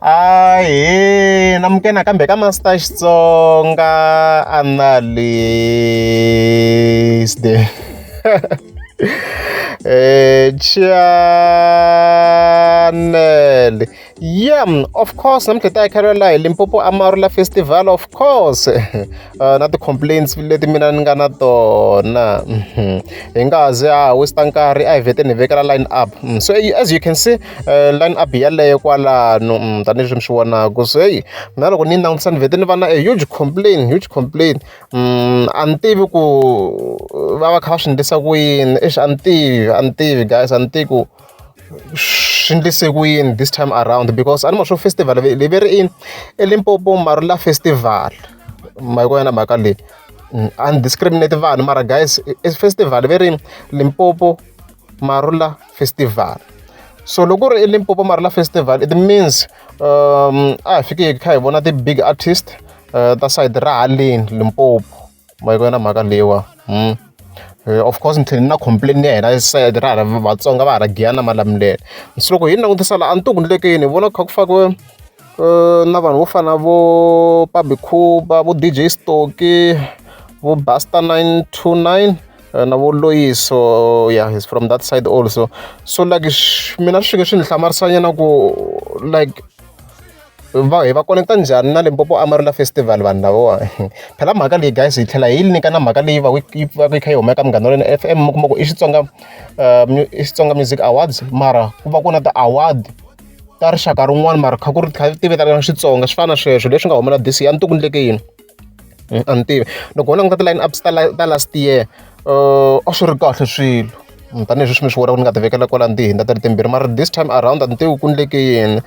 Ahee namuke nakambe ka Master Xitsonga analyst eh channel yeah of course namuntlha ta yakhelwela hi limpopo amarula festival of course uh, na ti-complaints leti mina ni nga na tona mhm. hi nga zi a hosta nkarhi a hi veteni hi vekela line up mm, so as you can see line up yeleyo kwalano tanihileswi mi swi vonaka se heyi mina loko ni yi langutisa ni vhete ni va na a huge complain huge complain a ni tivi ku va va kha va swi endlisa ku yini exi a ni tivi a ni tivi guys a ni tivi ku swi endlise ku yini this time around because a ni ma swo festival leyi ve ri ini elimpopo marula festival ma yi ku yona mhaka leyi undiscriminate vanhu mara guys festival ve ri limpopo marula festival so loko ri elimpopo marila festival it means um a hi fike hi kha hi vona ti-big artist uh, ta side ra haleni limpopo ma yi kona mhaka leyiwa hmm. eh, of course ni tlhele ni na complain ya hina side ra hala vatsonga va ha ra giyana malamulele so loko hi ni langutisa laha a ni ti kundlekeni hi vona kha ku fakiwe eh, na vanhu vo fana vo pabikhuba vo dj stoki vo basta 929 eh, na voloyiso yeah he's from that side also so like mina swi fike swi ni hlamarisanyana ku like va hi va connecta njhani na limpopo amarula festival vanhu lavowa phela mhaka leyi guys hi tlhela hi yi nyika na mhaka leyi va yi va yi kha yi humeka munghana wa f m mi kuma ku i xitsonga eh, i xitsonga music awards mara ku va ku na ti-award ta rixaka rin'wana mara kha ku ri kha ti vitana xitsonga swi fana na sweswo leswi nga humela this ya ntukundleke yini a ni tivi loko ho languta ti-line ups ta ta last year uh, a swi ri kahle swilo mm, tanihileswi swi mi swi vona ku ni nga ti vekela kwala ni tihinda ta ri timbirhi mara this time around a ni tivi ku ni leke yini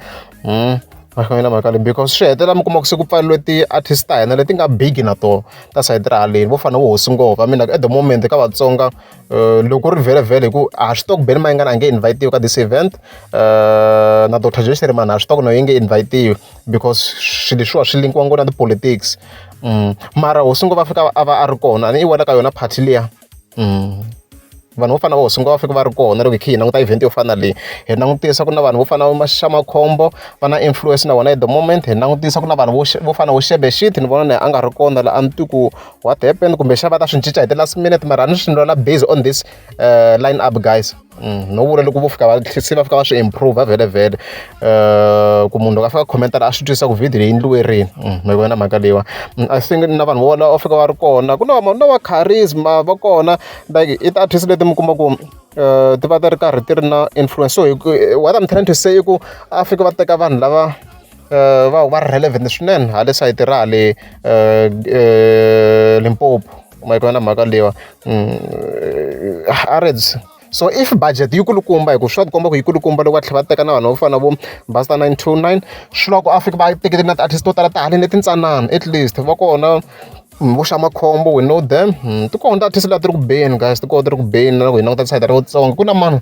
mm, mahlamela mhaka leyi because swi hetelela mi kuma ku se ku pfariwe ti-artist ta hina leti nga big na tona ta sayiti ra haleni vo fana vo hosi ngova mina at the moment ka vatsonga uh, loko ri vhelevhele hi ku a swi tokubeni ma yi nga na nge invitiwe ka this event uh, na dr jesheri mani a swi toko na yi nge invitiwe because swilo leswiwa swi linkiwa ngopfu na ti-politics mara hosi ngo va fika a va a ri kona a ni i wela ka yona party liya vanhu vo fana na hosi ngo va fika va ri kona loko hi kha hi languta event yo fana na leyi hi langutisa ku na vanhu vo fana na maxamakhombo va na influence na vona at the moment hi langutisa ku na vanhu vo vo fana vo xebe shit ni vona na a nga ri kona la a ni twi ku what happened kumbe xava ta swi cinca hi ti-last minute mara a ni swi ni lwela based on this line up guys Mm, no vula loko vo fika va se va fika va swi improve vhele vhele eh, ku munhu loko a fika khomentara a swi twisisa ku video leyi endliwe rini mm, mi vona mhaka leyiwa mm, i think na vanhu vo va fika va ri kona ku na na va charisma va kona like i ti-artist leti mi kuma ku eh, ti va ti ri karhi ti ri na influence so what i'm trying to say i ku a fika va teka vanhu lava va huma ri relevant swinene ha le sayiti ra le Limpopo ma yi ku va na mhaka leyiwa Harrods so if budget yi kulukumba hi ku swi va tikomba ku yi kulukumba loko va tlhela va teka na vanhu vo fana na vo Basta nine two nine swi lava ku a fika va teketela na ti-artist to tala ta haleni leti ntsanana at least va kona vo xa makhombo we know them ti kona ti-artist leti ti ri ku beni guys ti kona ti ri ku beni na loko hi languta ti-side ra Vatsonga ku na mani.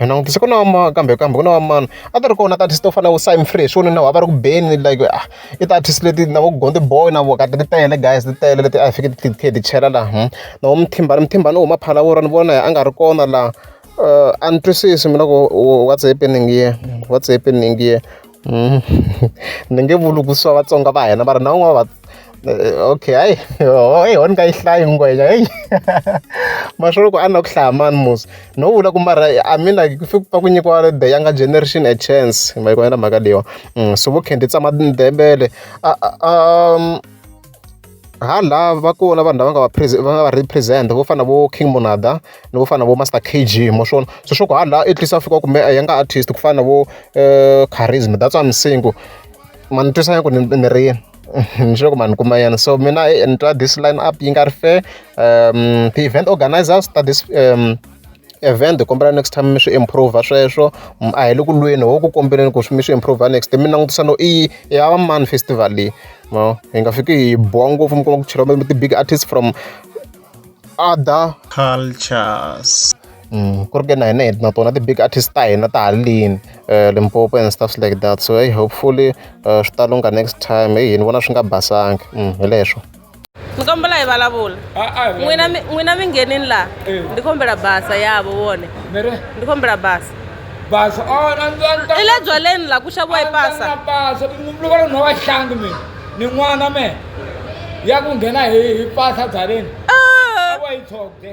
Hi langutise ku na va kambe kambe ku na va mani a ti ri kona ti-artist to fana na vo Simon Free hi swi vonile na vona a va ri ku beni like a i ti-artist leti na vo Gone the Boy na vona ti tele guys ti tele leti a hi fanekele hi kha hi ti chela laha. Na vo Mthimbani Mthimbani u huma Phalaborwa ni vona a nga ri kona laha a ni twisisi mina ku what's happening here what's happening here. hmm. ni nge vuli ku swa vatsonga va hina va ri na un'wana va eh, okay hayi heyi ho ni nga yi hlayi ngwenya heyi maswolo ku a na ku hlaya mani musi no vula ku mara a mina ku fike pa ku nyikiwa the younger generation a chance mayikwanela mhaka leyiwa hmm, so vo khendi tsama ndebele um ha la va kona vanhu lava nga va va nga va represent vo fana na vo King Monada ni vo fana na vo Master KG mo swona se swa ku ha la at least a fika kumbe a ya nga artist ku fana na vo eh, charisma that's why I'm saying ku mani twisanya ku ni ri yini ni sure ku mani kuma yena so mina eh, ni twa this line up yi nga ri fair um the event organizers ta this um event kombela next time mi swi improve sweswo mm, a hi le ku lweni ho ku kombeleni ku mi swi improve next time mi langutisa no i ya va mani festival leyi no hi nga fiki hi boha ngopfu mi kuma ku cheriwa mi ti-big artists from other cultures mm, ku ri ke na hina na tona ti-big artist ta hina ta halini um limpopo and stuffs like that so hey hopefully um swi ta lunga next time heyi ni vona swi nga basangi mm, hi leswo ni kombela hi vulavula n'wina n'wina mi nghenini laha eh. ndi kombela basa yavo vone ndi kombela basa basa oh, i le byaleni laha ku xaviwa hi basa loko ri nhova hlangi mina ni n'wana me ya ku nghena hi hi basa byaleni ah! wa yi tshokde